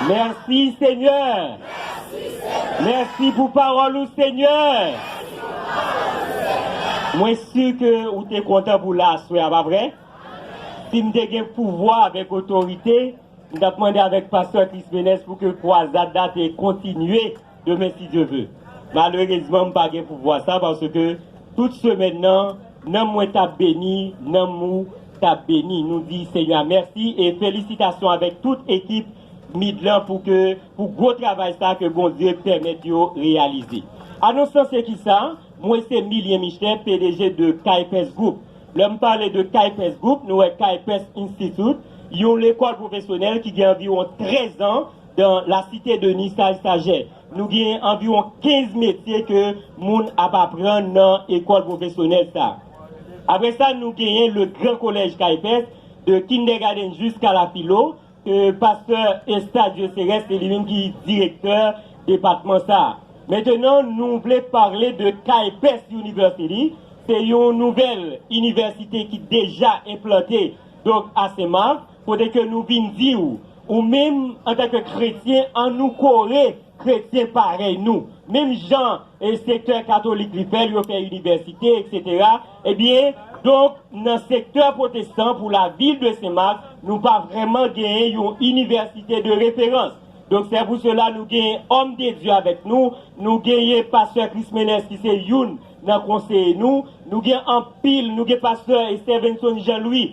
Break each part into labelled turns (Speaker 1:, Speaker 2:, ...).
Speaker 1: Mèsi senyè Mèsi pou pawòl ou senyè Mwen si ke ou te kontan pou la aswè a pa vre? Sim te gen pouvwa avèk otorite m tap mande avèk pastè Clismenes pou ke kwazad la te kontinye Demen si Dye ve. Malerezman m pa gen pouvwa sa paske tout semèn nan nanm mwen tap beni nanm ou tap beni nou di Senyè a mèsi e felisitasyon avèk tout ekip Mid lan pou ke pou gwo travay sa ke Bondye pèmèt yo reyalize. Anons lan se kisa? Mwen se Milien Michel pdg de Kaypès Group. Lè m pale de Kaypès Group nou wè Kaypès Institute yon lekòl pwofesyonèl ki gen anviwon 13 an Dan la site de Nisaj Sajè, nou genyen anviwon 15 metye ke moun ap aprann nan ekòl pwofesyonèl sa. Apre sa, nou genyen le gran kolèj Kaypès, de kindègadenn jiska la filo, ke pastè Estadio Serès se li menm ki direktè depatman sa. Mentenan, nou vle pale de Kaypès University, se yon nouvèl inivèsite ki deja enplante donk a Sen Mak. Kote ke nou vin di ou, ou menm antan ke kretyen an nou kore kretyen parèy nou, menm jan e sektè katolik li fèl yo fè inivèsite etc. Ebyen donk nan sektè pwotestan pou la vil de Senmak nou pa vrèman genyen yon inivèsite de referans. Donk sè pou sela nou genyen òm de Dye avèk nou, nou genyen pastè Chris Menès ki se youn nan konseye nou, nou gen anpil nou gen pastè Estèvenson Jean Louis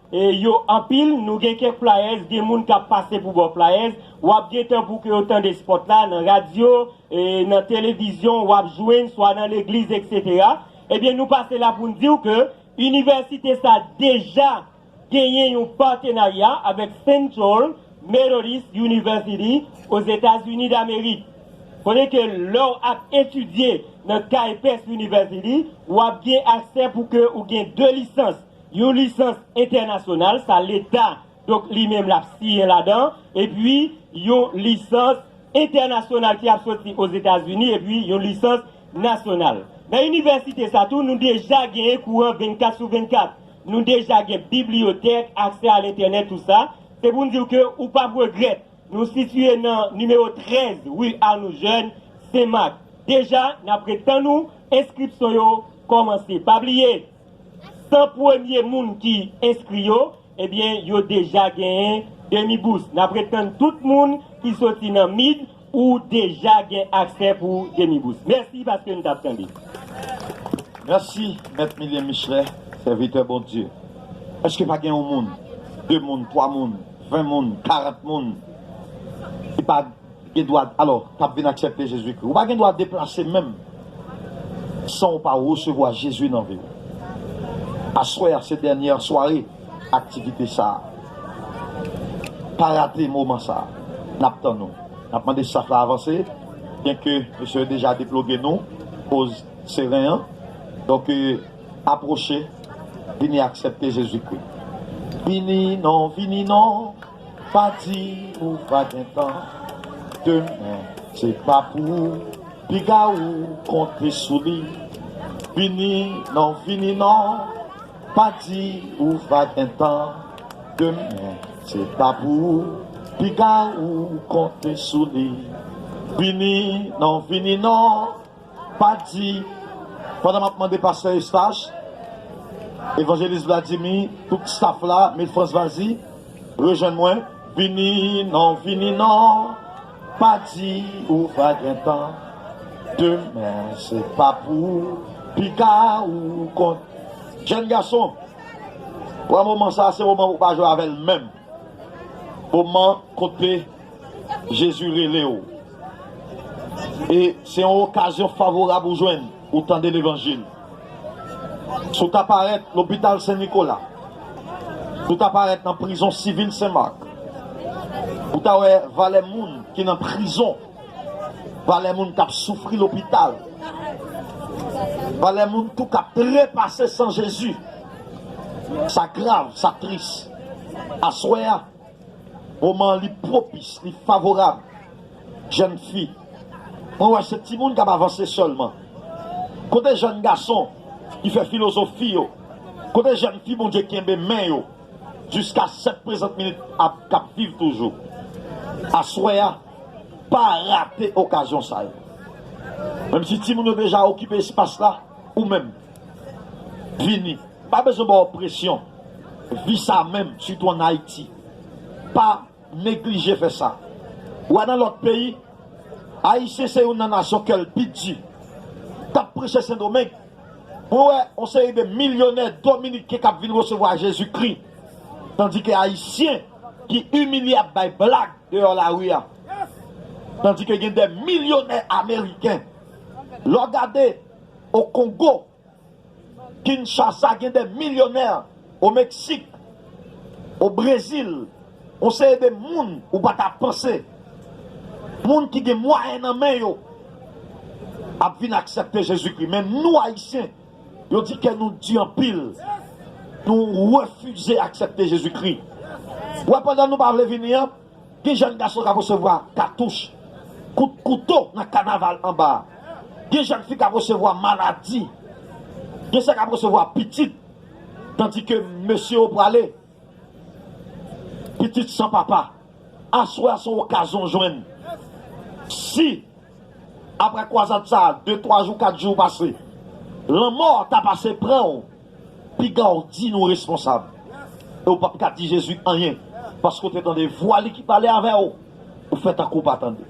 Speaker 1: yo anpil nou gen kèk flyers gen moun kap pase pou baw flyers wap gen tan pou ke yo tande spot la nan radio nan televizyon wap jwenn swa nan legliz etc ebyen nou pase la poun diw ke inivèsite sa deja genyen yon patenarya avèk central methodist university ozetazini damerik kote ke lèw ap etidye nan kay pes university wap gen aksè pou ke ou gen 2 lisans Yon lisans entènasyonal sa leta donk li menm lap siyen ladan epi yon lisans entènasyonal ki ap soti ozetazini epi yon lisans nasyonal. Nan inivèsite sa tou nou deja genyen kouran 24 sou 24, nou deja gen bibliyotèk, aksè a lentènèt tout sa, se pou n diw ke ou pap regrèt nou sitiye nan nimewo 13 ri Arnoux Jeune, Senmak. Deja nap ret tann ou, enskripsyon yo kòmanse pa bliye. 100 premye moun ki enskri yo, ebyen yo deja genyen demi bous. Nap ret tann tout moun ki soti nan mid ou deja gen aksè pou demi bous. Mèsi paske nou tap tande.
Speaker 2: Mèsi mèt Milien Michelet sèvitè Bondye. Eske pa gen yon moun, 2 moun, 3 moun, 20 moun, 40 moun ki pa. Edward, alò, k ap vin aksèpte Jezikri. Ou pa gen dwa deplase menm san ou pa resevwa Jezi nan vi w. Aswè a se dènyè sware aktivite sa a. Pa rate moman sa a. N ap tann ou. N ap mande staf la avanse, byenke mesye yo deja deploge nou koz seren an. Donk, apwoche, vini aksèpte Jezikri. Vini non, vini non. Pa di ou pa gen tan, demen se pa pou ou Piga ou konte sou li, vini non vini non Pa di ou pa gen tan, demen se pa pou ou Piga ou konte sou li, vini non vini non. Pa di, pandan m ap mande pastè Eustache, evanjelis Vladimi, tout staff la, Me Frantz Vazy, rejwenn mwen, vini non, vini non, pa di ou pa gen tan, demen se pa pou piga ou konn. Jèn gason, pran moman sa a, se moman pou w pa jwe avè l menm. Moman kote Jezi rele w e se yon okazyon favorab ou jwenn pou w tande levanjil. Si w ta parèt lopital Sen Nikola, si w ta parèt nan prizon sivil Sen Mak, ou ta wè valè moun ki nan prizon, valè moun k ap soufri lopital, valè moun tou k ap trepase san Jezi. Sa grav, sa tris. Aswè a, moman an li pwopis, li favorab. Jèn fi, mwen wè se timoun k ap avanse sèlman. Kote jèn gason ki fè filozofi yo? Kote jèn fi Bondye kenbe men yo jiska sèt prezant minit k ap viv toujou? Aswè a, pa rate okazyon sa yo. Menmsi timoun yo deja okipe espas la, ou menm. Vini, pa bezwen ba w presyon. Vi sa menm, sitou an Ayiti, pa neglije fè sa. Ou a nan lòt peyi, Ayisyen se youn nan nasyon kè l pi di. T ap preche Sendomeng, mwen wè yon seri de milyonè dominiken k ap vin resevwa Jezikri, tandike Ayisyen ki imilye ap bay blag deyò lari a. Tandike gen de milyonè Ameriken. Lè w gade. O Kongo Kinshasa gen de milyonè o Meksik, o Brezil, on seri de moun ou pa ta panse, moun ki gen mwayen nan men yo ap vin aksèpte Jezikri. Men nou Ayisyen, yo di kè nou di anpil, nou refize aksèpte Jezikri. Ou wè pandan nou pa vle vini an, Ki jèn gason kap resevwa katouch, kout kouto nan kanaval anba a? Gen jèn fi kap resevwa maladi, gen sa kap resevwa pitit tandi ke mesye yo prale pitit san papa. Aswè a son okazyon jwenn si. Aprè kwazad sa a, de twa jou, kat jou pase. Lanmò ta pase pran w, piga w di nou responsab. E w pap ka di Jezi anyen, paske w te tande vwa li ki pale avè w, ou fè tankou w pa tande.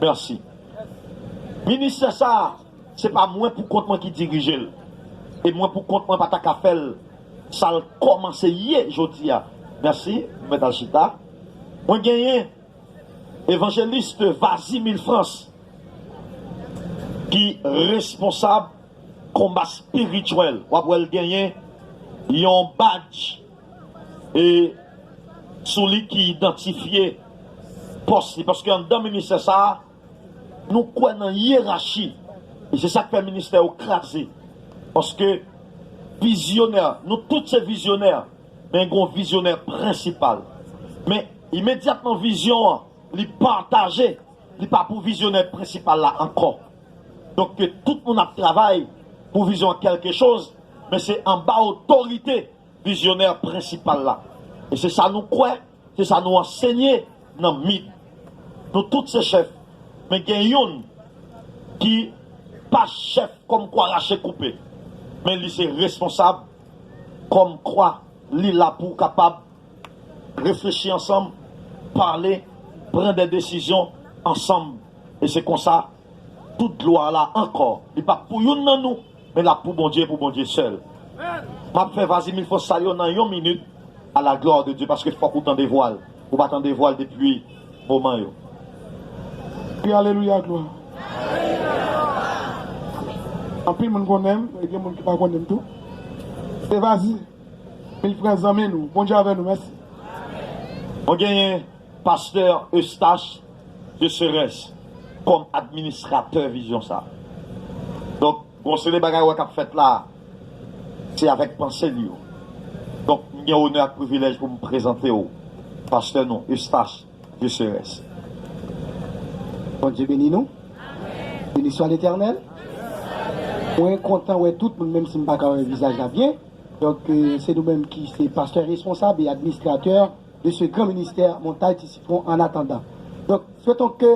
Speaker 2: Mèsi. Ministè sa a, se pa mwen pou kont mwen ki dirije l, e mwen pou kont mwen pa ta ka fè l sa l kòmanse ye jodi a. Mèsi. Nou mèt al chita. Mwen genyen. Evangeliste Vazimil France ki responsab konba spirituel wap wèl genyen yon badj e sou li ki idantifye pòs li paske anndan ministè sa nou kwè nan yerachi e se sak fè ministè yo kraze paske vizyonè nou tout se vizyonè. Men gon vizyonè prensipal. Men, imedyatman vizyon an li pataje, li pa pou vizyonè prensipal la ankò. Donk ke tout moun ap travay pou vizyon an kèlke choz, men se anba otorite vizyonè prensipal la. E se sa nou kwè. Se sa nou ansenye nan mit. Nou tout se chèf, men gen youn ki pa chèf kòm kwa rache koupe, men li se responsab kòm kwa li la pou kapab reflechi ansanm, pale, pran de desizyon ansanm e se konsa. Tout glwa la ankò li pap pou youn nan nou men lap pou Bondye e pou Bondye sèl map fè vas y mil fwa sa yo nan yon minit a la gloire de Dieu paske fòk ou tande vwa l ou pa tande vwa l depi moman yo.
Speaker 3: Kri alelouya glwa. Anpil moun konnen m e gen moun ki pa konnen m tou se vas y mil fwa zanmi nou Bondye avè nou mèsi.
Speaker 2: Mwen genyen Pasteur Eustache de Serres kòm administratè vizyon sa. Donk gon seri bagay ou wè k ap fèt la a, se avèk panse li yo. Donk m gen onè ak privilèj pou m prezante ou pastè nou Eustache de Serres.
Speaker 4: Bondye beni nou. Beniswa letènèl. Mwen kontan wè tout moun menm si m pa ka wè vizaj la byen. Donk se nou menm ki se pastè responsab e administratè. Mesye gran ministè montay ti sitron an atandan donk feyton ke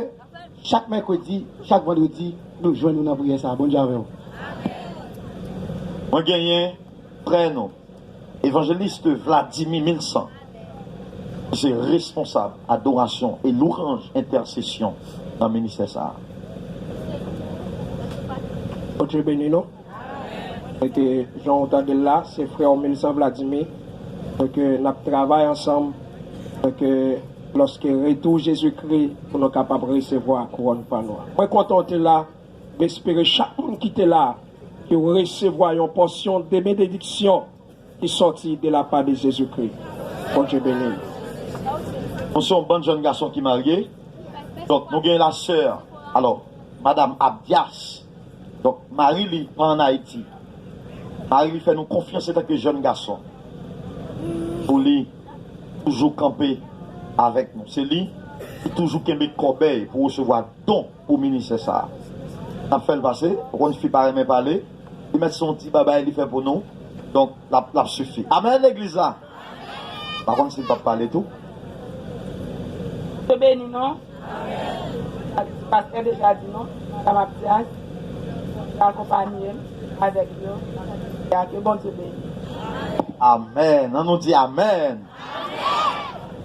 Speaker 4: chak mèkredi chak vandredi nou jwenn ou nan priyè sa Bondye avèw.
Speaker 2: Mwen genyen prè nou Evangeliste Vladimir Milsan ki se responsab adorasyon e louranj entèsesyon nan ministè sa. Bondye
Speaker 5: beni nou. Mete jan ou tandel la se frèw Milsan Vladimi ke nap travay ansanm ke loske retou Jezi Kri pou nou kapab resevwa kouwòn pa nou an. Mwen kontan ou te la, m espere chak moun ki te la ke ou resevwa yon pòsyon de benediksyon. ki sòti de la pa de Jezi Kri. Bondye beni nou.
Speaker 2: Nou se yon bann jèn gason ki marye, donk nou gen la sè, alò, Madam Abdias, donk mari li pa an Ayiti. Mari li fè nou konfyans etanke jèn gason pou li toujou kanpe avèk nou. Se li ki toujou kenbe kòbèy pou resevwa don. Pou minisè sa nap fèl pase ou konn fi pa renmen pale li mèt son ti babay li fè pou nou donk lap lap sifi amen legliz la pa konn sil pap pale tou.
Speaker 6: Bondye beni nou Pastè deja di nou sa map di a Bondye akonpanyem avèk yo nan kantite a ke Bondye beni nou. Amen an
Speaker 2: nou di amen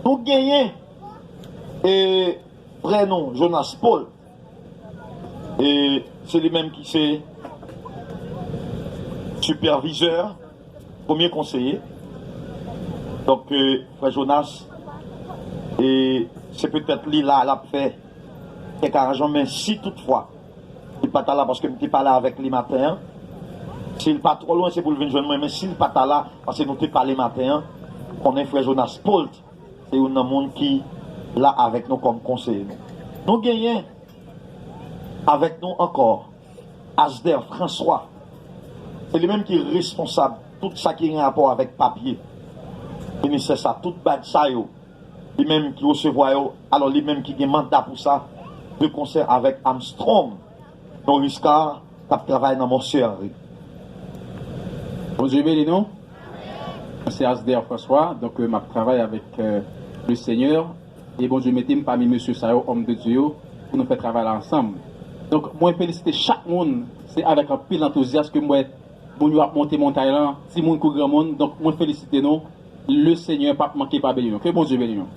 Speaker 2: nou genyen e. Frè nou Jonas Paul e se li menm ki se sipèvizè, premye konseye. Donk frè Jonas e se petèt li la lap fè kèk aranjman men si tout fwa li pa ta la paske m te pale avèk li maten an, si l pa twò lwen se pou l vin jwenn mwen men si l pa ta la paske nou te pale maten an konnen frè Jonas Paul t Se youn nan moun ki la avèk nou kòm konseye nou. Nou genyen avèk nou ankò Asder François, se li menm ki responsab tout sa ki gen rapò avèk papye ministè sa, tout badj sa yo, li menm ki resevwa yo, alò li menm ki gen manda pou sa, de konsè avèk Armstrong. Yon Riska kap travay nan Monsye Henri. Bondye
Speaker 7: beni nou Mwen se Asder François donk map travay avèk le senyè e Bondye metem pami mesye sa yo homme de Dieu yo pou nou fè travay la ansanm donk mwen felisite chak moun se avèk anpil antouzyas kem wè moun yo ap monte montay lan timoun kou granmoun donk mwen felisite nou le senyè pap manke pa beni nou ke Bondye beni nou.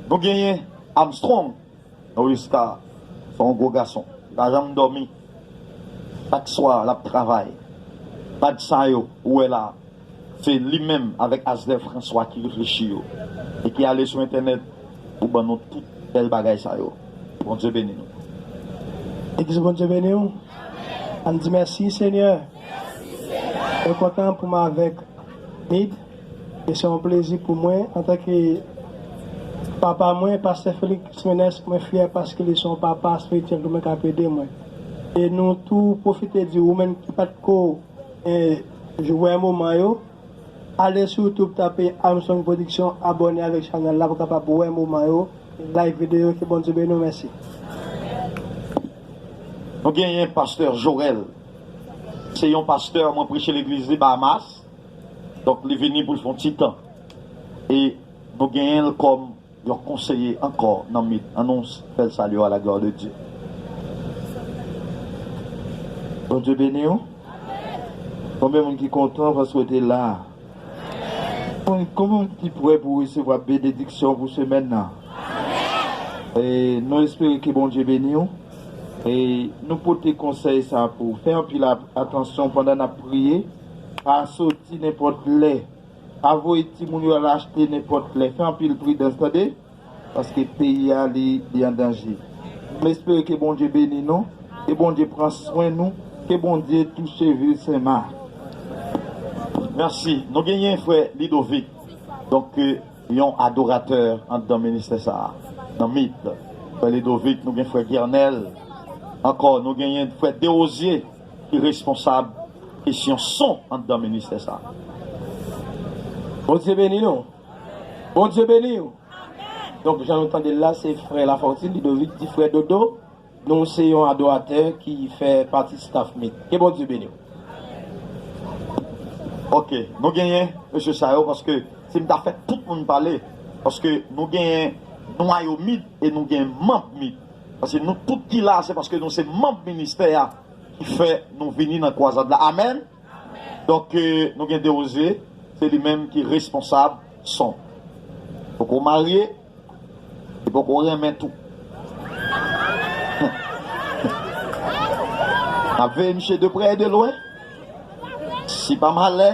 Speaker 7: Nou
Speaker 2: genyen Armstrong. Norisca se yon gwo gason li pa janm dòmi chak swa lap travay bad sa yo ou wè la se li menm avèk Asvel François ki reflechi yo e ki ale sou entènèt pou ban nou tout bèl bagay sa yo Bondye beni nou. Ex Bondye beniw
Speaker 4: Ann di mèsi senyè mwen kontan poum avèk Mid. E se yon plezi pou mwen, antanke papa mwen, Pastè Felix Menes, mwen fyè paske li se yon papa espirityèl pou mwen k ap ede mwen. E nou tou pwofite di ou menm ki pa t ko jwè moman yo, ale sou YouTube tape Armstrong Production, abòne avèk chanèl la pou w kapab wè moman yo, e like videyo yo. Ke Bondye beni w. Mèsi.
Speaker 2: Nou genyen Pastè Jorel. Se yon pastè, mwen preche legliz li Bahamas. Donk li vini pou l fè yon ti tan e nou genyen l kòm yon konseye ankò nan mit an nou fè l salye w a la glwa de Dye.
Speaker 8: Bondye beni w. Konbyen moun ki kontan paske w te la? Konbyen moun ki prè pou resevwa benediksyon pou semèn nan? E nou espere ke Bondye beni w e nou pote konsèy sa pou w fè anpil atansyon pandan n ap priye. Pa soti nenpòt lè. Pa voye timoun yo al achte nenpòt lè. Fè anpil pridans tande. Paske peyi a li an danje. M espere ke Bondye beni nou. Ke Bondye pran swen nou. Ke Bondye touche vil Sen Mak. Merci.
Speaker 2: Nou genyen frè Lidovic donk yon adoratè andan ministè sa a nan mit. Frè Lidovic nou gen frè Guernel ankò nou genyen frè Derosier. ki responsab kesyon son andan ministè sa.
Speaker 5: Bondye beni nou. Bondye beniw. Donk jan nou tandel la se frè Lafortune Ludovic di frè Dodo nou se yon adoratè ki fè pati staff mit. Ke Bondye beniw.
Speaker 2: Ok nou genyen mesye sa yo paske sim ta fè tout moun pale paske nou genyen nwayo mit e nou gen manb mit. Paske nou tout ki la se paske nou se manb ministè a ki fè nou vini nan kwazad la amen donk nou gen deroze se li menm ki responsab son poko marye li poko renmen tou nap veye misye de prè e de lwen si pa malè.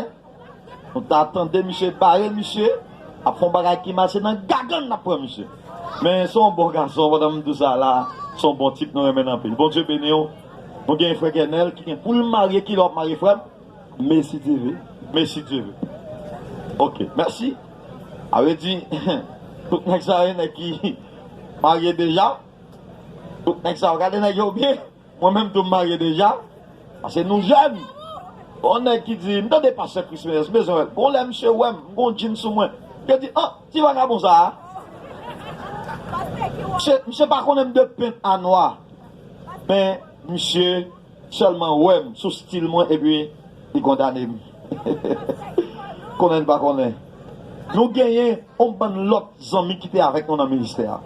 Speaker 2: Nou ta tande misye bare misye ap fon bagay ki mal se nan gagann nap pran misye men son bon gason pandan m dousa la son bon tip nou renmenn anpil Bondye beniw nou gen yon frè kenel ki gen poul marye kilè wap marye frèm mesidyeve mesidyeve ok mèsi avedi tout nèg sa yo nèg ki marye deja tout nèg sa yo gade nèg yo byen. Mwen menm tou m marye deja pase nou jèn bon nèg ki di m tande pastè Chris Ménès m bezwen wèl gon lè misye wè m m gon djin sou mwen misye di an ti vagabon sa a misye misye pa konnen m de pent a nwa men misye sèlman wè m sou stil mwen epi li kondane m. Konnen n pa konnen, nou genyen yon bann lòt zanmi ki te avèk nou nan ministè a.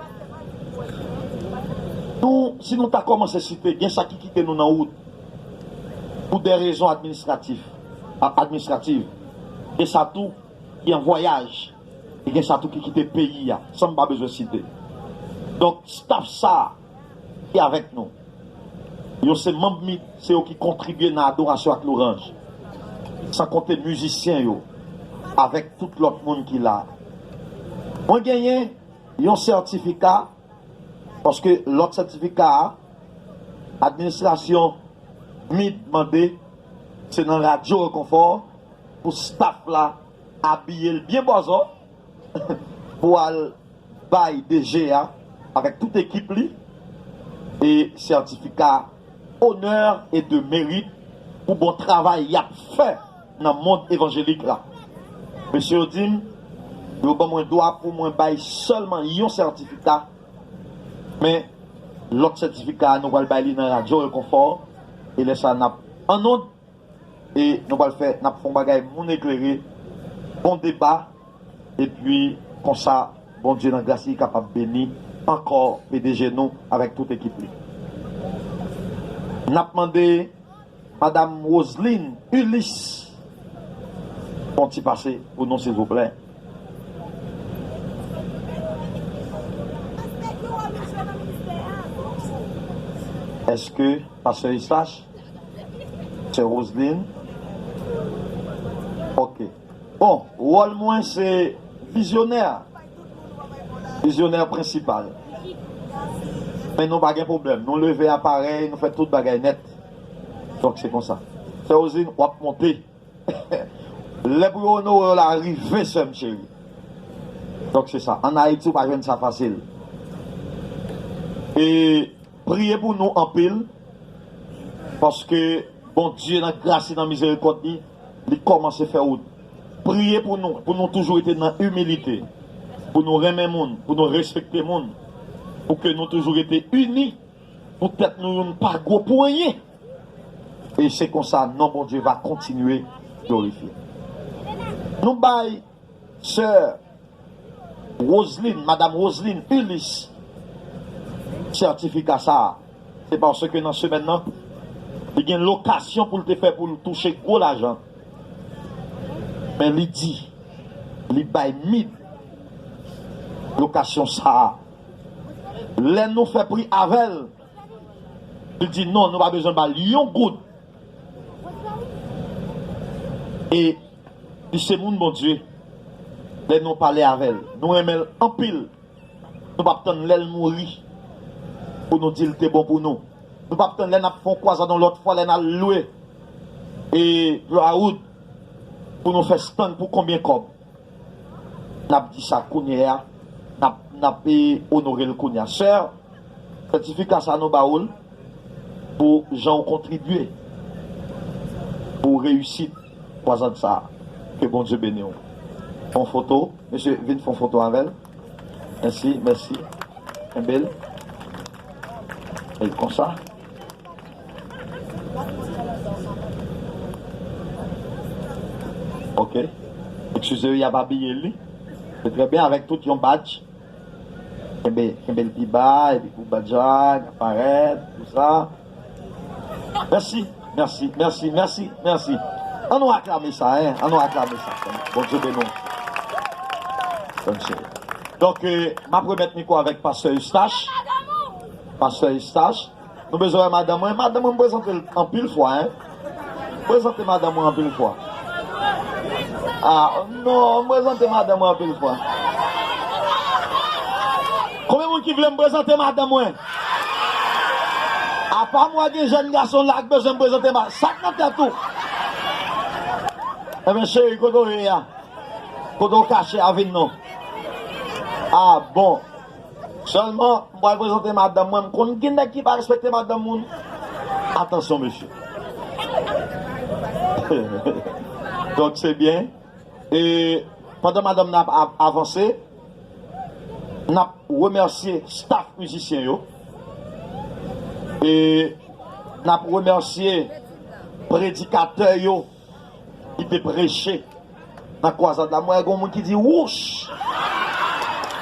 Speaker 2: Nou, si nou ta kòmanse site, gen sa ki kite nou nan wout pou dè rezon administratif, administrative, gen sa tou ki an vwayaj e gen sa tou ki kite peyi a, san m pa bezwen site. Donk, staf sa a. e avèk nou. Yo se manb mit, se yo ki kontribye nan adorasyon ak louranj. San konte mizisyen yo avèk tout lòt moun ki la. Mwen genyen yon sètifika, paske lòt sètifika a, administrasyon mit mande, se nan Radyo Rekonfò pou staf la abiye l byen bòzò. pou al bay DG a avèk tout ekip li e sètifika onè e de merit pou bon travay yap fè nan mond evanjelik la. Mesye yo di m yo ban mwen dwa pou mwen bay sèlman yon sètifika, men lòt sètifika a nou pral bay li nan Radyo Rekonfò e lè sa nap annonn. E nou pral fè nap fon bagay moun eklere bon deba epi konsa Bondye nan gras li kapab beni ankò pdg nou avèk tout ekip li. Nap mande madam Roseline Ulysse yon ti pase pou nou silvouplè. Eske pastè Eustache Sè Roseline, Ok. Bon, wòl mwen se vizyonè a. Vizyonè prensipal. Men nou pa gen pwoblèm. Nou leve aparèy, nou fè tout bagay nèt. Donk se konsa. Sè Roseline, w ap monte. Lè pou yo onore w la rive sè m cheri Donk se sa An Ayiti ou pa jwenn sa fasil E priye pou nou anpil Paske Bondye nan gras li nan mizerikòd li Li kòmanse fè wout Priye pou nou Pou nou toujou rete nan imilite Pou nou renmen moun Pou nou respekte moun Pou ke nou toujou rete ini Pou tèt nou youn pa gwo pou anyen. E se konsa non Bondye va kontinye glorifye. Nou bay sè Roseline, Madam Roseline Ulysse sètifika sa a, se paske nan semèn nan, li gen lokasyon pou l te fè pou l touche gwo lajan, men li di li bay mid lokasyon sa a. Lè nou fè pri avè l. Li di non nou pa bezwen ba l yon goud. E li se moun Bondye. Lè nou pale avè l, nou renmen l anpil. Nou p ap tann lè l mouri pou nou di l te bon pou nou. Nou p ap tann lè n ap fè yon kwazad yon lòt fwa, lè n al lwe Broadwood pou nou fè stann pou konbyen kòb. Nap di sa kounyea nap onorel kounyea sèr sètifika sa nou ba oul pou jan ou kontribye pou reyisit kwazad sa ke bondye beni ou fon foto mesye vin fon foto avèl mèsi mèsi kenbel konsa. Ok excuse yo yap abiye li se trè byen avèk tout yon badj kenbe kenbe l pi ba epi pou badj la ka parèt pou sa mèsi mèsi mèsi mèsi mèsi an nou aklame sa hein an nou aklame sa Bondye beni w sèm cheri donk map remèt mikwo avèk pastè Eustache pastè Eustache. Nou bezwen wè madan mwen. Madan mwen m prezante l anpil fwa hein. Prezante madan mwen anpil fwa. Ahh non m prezante madan mwen anpil fwa. Konbyen moun ki vle m prezante madan mwen? Apa mwen gen jèn gason la k bezwen m prezante madan mwen. Sak nan tèt ou? Ebyen cheri kote w ye a? Kote w kache a vin non. Ahh bon. Selman m pral prezante madanm mwen m konn gen nèg ki pa respekte madanm moun atansyon mesye donk se byen e pandan madanm nan ap avanse nap remèsye staff mizisyen yo e nap remèsye predikatè yo. Li te preche nan kwazad la. M wè gen yon moun ki di wouch!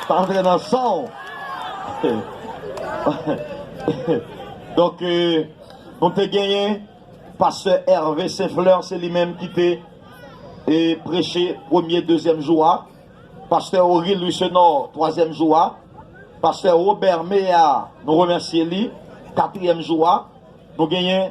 Speaker 2: Sa antre nan san w. Donk, nou te genyen pastè Hervé Saint-Fleur, se li menm ki te preche premye, dezyèm jou a, pastè Oril Louissenor, twazyèm jou a, pastè Robert Méard, nou remèsye li, katriyèm jou a, nou genyen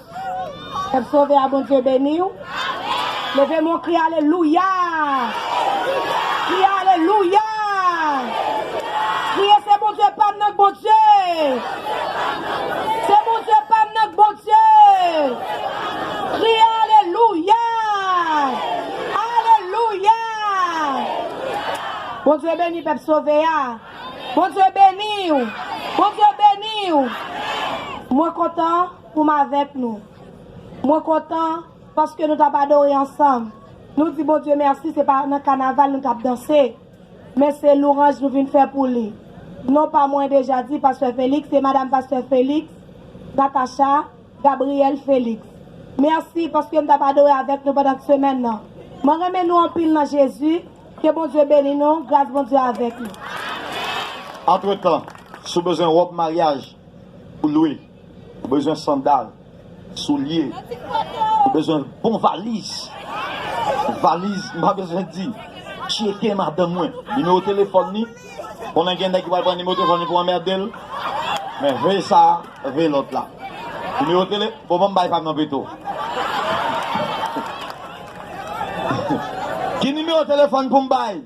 Speaker 2: Pèp sove
Speaker 9: a Bondye beni w. Leve men w kri alelouya. Kri alelouya. Kriye se Bondye pa m nan k Bondye. Se Bondye pa m nan k Bondye. Kri alelouya. Alelouya. Bondye beni pèp sove a. Bondye beni w. Bondye beni w. Mwen kontan. Pou m avèk nou. Mwen kontan paske nou t ap adore ansanm. Nou di Bondye mèsi se pa nan kanaval nou t ap danse, men se louranj nou vin fè pou li. Non pa mwen deja di pastè Félix, se madam pastè Félix, Natacha Gabrielle Félix. Mèsi paske m t ap adore avèk nou pandan t semèn nan. Mwen renmen nou anpil nan Jezi. Ke Bondye beni nou, gras Bondye avèk nou.
Speaker 2: Antretan, si w bezwen wòb maryaj pou lwe. Ou bezwen sandal, soulye, ou bezwen bon valiz, valiz m pa bezwen di, tcheke madanm mwen, nimewo telefòn ni, konnen gen nèg ki pral pran nimewo telefòn ni pou anmède l, men veye sa, veye lòt la. Nimewo tele, bon banm bay pam nan pito. Ki nimewo telefòn pou m bay?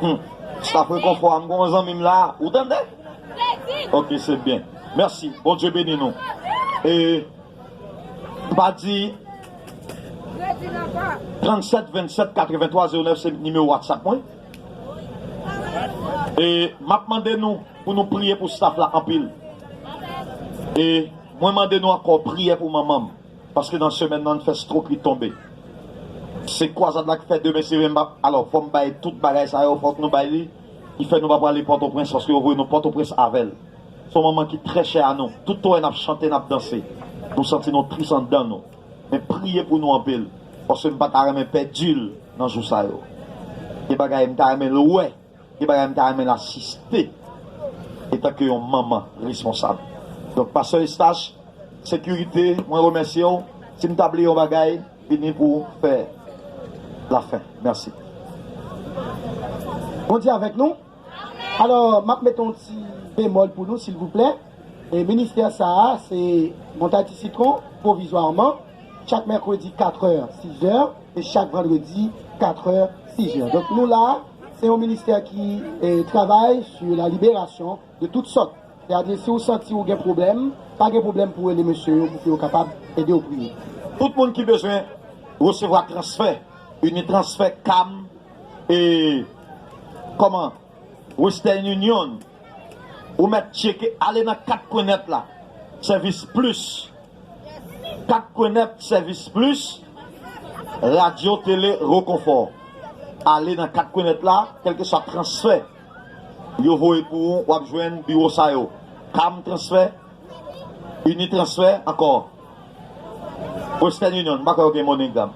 Speaker 2: Humm staff rekonfò a m gon zanmi m la ou tande ok se byen merci bondye beni nou e m pa di 37 27 83 09 se nimewo whatsapp mwen e m ap mande nou pou nou priye pou staff la anpil e mwen mande nou ankò priye pou manman m. Paske nan semèn nan fè stro pli tonbe se kwazad la ki fè demen se menm alò fòm bay tout bagay sa yo fòk nou bay li ki fè nou pa prale pòtoprens paske yo voye nou pòtoprens avèl son manman ki trè chè a nou tout wè nap chante nap danse nou santi nou tris andan nou men priye pou nou anpil paske m pata renmen pèdil nan jou sa yo gen bagay m ta renmen l wè. Gen bagay m ta renmen l asiste etanke yon manman responsab. Donk pastè Eustache, sekirite mwen remèsye w, si m ta bliye yon bagay vini pou fè lafen. Mèsi.
Speaker 4: Bondye avèk nou. Alò m ap mete yon ti bemòl pou nou silvouplè. Ministè sa a se Montay Ti Sitwon pwovizwaman chak mèkredi katrè, sizè e chak vandredi katrè, sizè. Donk nou la. Se yon ministè ki travay su la liberasyon de tout sòt. Se a di si ou santi ou gen pwoblèm, pa gen pwoblèm pou rele mesye yo pou ke yo kapab ede ou priye. Tout moun ki bezwen
Speaker 2: resevwa transfè, Unitransfer, Cam, e kòman, Western Union, ou mèt tcheke, ale nan kat pwen nèt la, Service Plus. Kat Kwenèt Sèvis Plis, Radyo Tele Rekonfò Ale nan Kat Kwenèt la, kèlkeswa transfè yo voye pou ou, w ap jwenn biwo sa yo, Cam Transfè, Unitransfer, ankò Western Union, m pa kwè yo gen MoneyGram.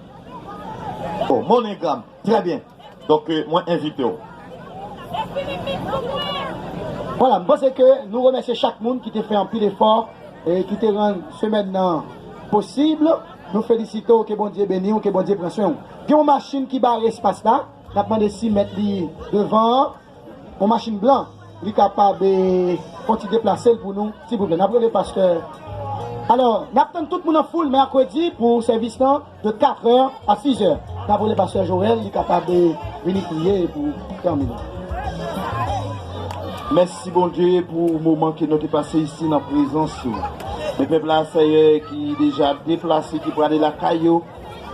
Speaker 2: Oh, MoneyGram! Trè byen. Donk mwen envite w.
Speaker 4: Vwala, m panse ke nou remèsye chak moun ki te fè anpil efò e ki te rann semèn nan posib. Nou felisite w, ke Bondye beni w, ke Bondye pran swen w. Gen yon machin ki bare espas la, n ap mande si mèt li devan an. Yon machin blan li kapab fon ti deplasel pou nou silvouplè nap rele pastè alò nap tann tout moun an foul mèkredi pou sèvis lan de 4 è a 6 è nap rele pastè Joel li kapab vini priye pou fanmi nou.
Speaker 8: Mèsi Bondye pou moman ke nou te pase isi nan prezans ou men pèp la Sèyè ki deja deplase ki prale lakay yo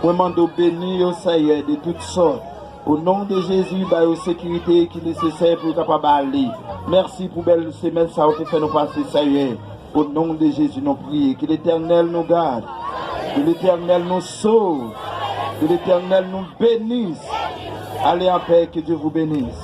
Speaker 8: mwen mande ou beni yo Sèyè de tout sòt O non de Jezi ba yo sekirite ki nesesè pou yo kapab ale mèsi pou bèl semèn sa ou te fè nou pase sèyè o non de Jezi nou priye ke letènèl nou gad ke letènèl nou sov ke letènèl nou benis ale anpè ke Dye vou benis.